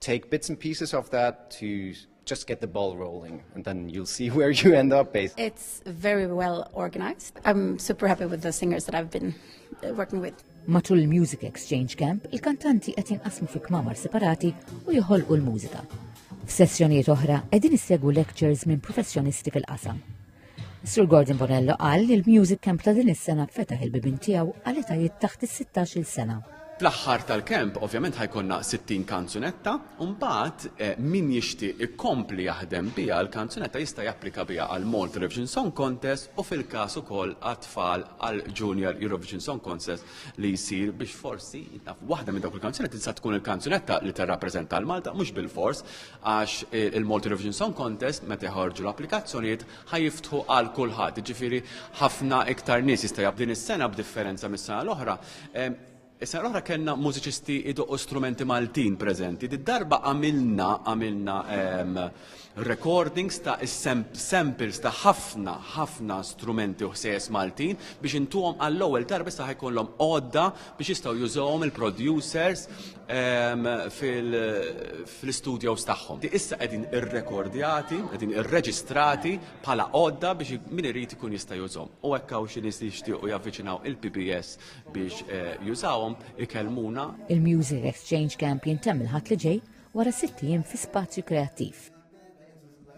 take bits and pieces of that to just get the ball rolling and then you'll see where you end up based. It's very well organized. I'm super happy with the singers that I've been uh, working with. Matul il-Music Exchange Camp, il-kantanti qed jinqasmu fi kmamar separati u joħolqu l-mużika. F'sessjonijiet oħra qegħdin issegwu lectures minn professjonisti fil-qasam. Sur Gordon Bonello qal li l-Music Camp ta' din is-sena fetaħ il-bibin tiegħu għal etajiet taħt is-16-il sena. Fl-aħħar tal-kemp, ovvjament ħajkonna 60 kanzunetta, u mbagħad eh, min jixtieq ikompli jaħdem biha l-kanzunetta jista' japplika biha għal Malta Eurovision Song Contest u fil-każ ukoll għat-tfal għal Junior Eurovision Song Contest li jsir biex forsi waħda minn dawk il-kanzunetti tista' tkun il-kanzunetta li tirrappreżenta l-Malta mhux bil-fors għax il-Multi Revision Song Contest meta jħorġu l-applikazzjonijiet ħajiftħu għal kulħadd, ġifiri ħafna iktar nies jista' jabdin is-sena b'differenza mis-sena l-oħra. Is-sena l-oħra kellna mużiċisti idoqqu strumenti Maltin preżenti. Darba għamilna għamilna recordings ta' samples ta' ħafna ħafna strumenti u ħsejjes Maltin biex intuhom għall-ewwel darba sa ħajkollhom għodda biex jistgħu jużawhom il-producers fil-studios tagħhom. Issa qegħdin irrekordjati, qegħdin irreġistrati bħala għodda biex min irid ikun jista' jużhom. U hekk hawn xi nies li jixtiequ javviċinaw il-PBS biex eh, jużawhom ikellmuna. Il-Music Exchange Camp jintemm il-ħadd li ġej wara sitt ijiem fi spazju kreattiv.